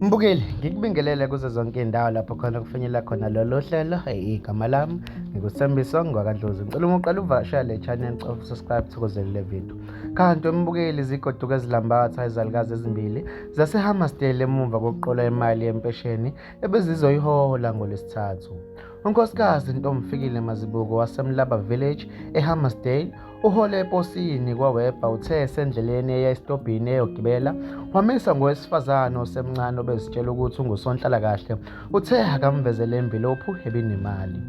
Mbukeli, ngikubingelele kuzo zonke iy'ndawo lapho khona kufinyelela khona lolu hlelo. Igama lami ngikusembiso ngwakandlozi. Ngicela uma uqala uvakashela le channel of subscribe thokozele le video. Kanti wembukeli zigoduka ezilambatha izalukazi ezimbili zaseHammarsdale emuva kokuqola imali yempesheni ebezizoyihola ngoLwesithathu. UNkosikazi Ntomfikile Mazibuko waseMlaba Village eHammarsdale Uhole eposini kwawebha uthe esendleleni eya esitobhini eyogibela wamisa ngowesifazane osemncane obezitshela ukuthi ungusonhlalakahle uthe akamvezele imvilophu ebinemali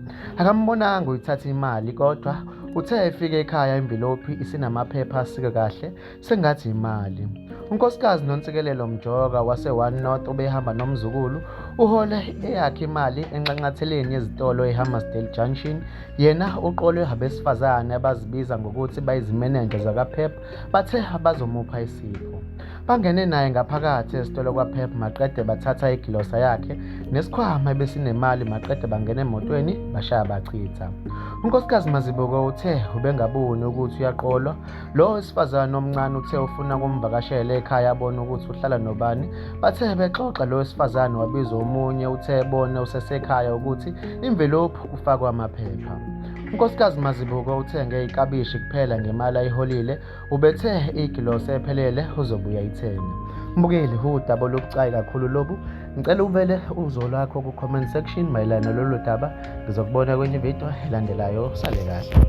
akambonanga uyithatha imali kodwa uthe efike ekhaya imvilophi isinamaphepha asike kahle sengathi imali unkosikazi nonsikelelo mjoka wase-one north obehamba nomzukulu uhole eyakhe imali enxanxatheleni yezitolo ehammersdale junction yena uqolwe abesifazane abazibiza ngokuthi bayizimenenja zakaphep bathe bazomupha isipho bangene naye ngaphakathi esitolo kwaphep maqede bathatha igilosa yakhe nesikhwama ebesinemali maqede bangena emotweni bashaya bachitha unkosikazi mazibuko uthe ubengaboni ukuthi uyaqolwa Lo wesifazane omncane uthe ufuna kumvakashela ekhaya abone ukuthi uhlala nobani. Bathe bexoxa lo wesifazane wabiza omunye uthe ebone usesekhaya ukuthi imvelophi kufakwa amaphepha. UNkosikazi Mazibuko uthenge ikabishi kuphela ngemali ayiholile, ubethe igilosi ephelele uzobuya ithenge. Mbukeli, udaba olubucayi kakhulu lobu. Ngicela ubele uzo lwakho ku-comment section mayelana nalolu daba. Ngizokubona kwenye ividiyo elandelayo. Sale kahle.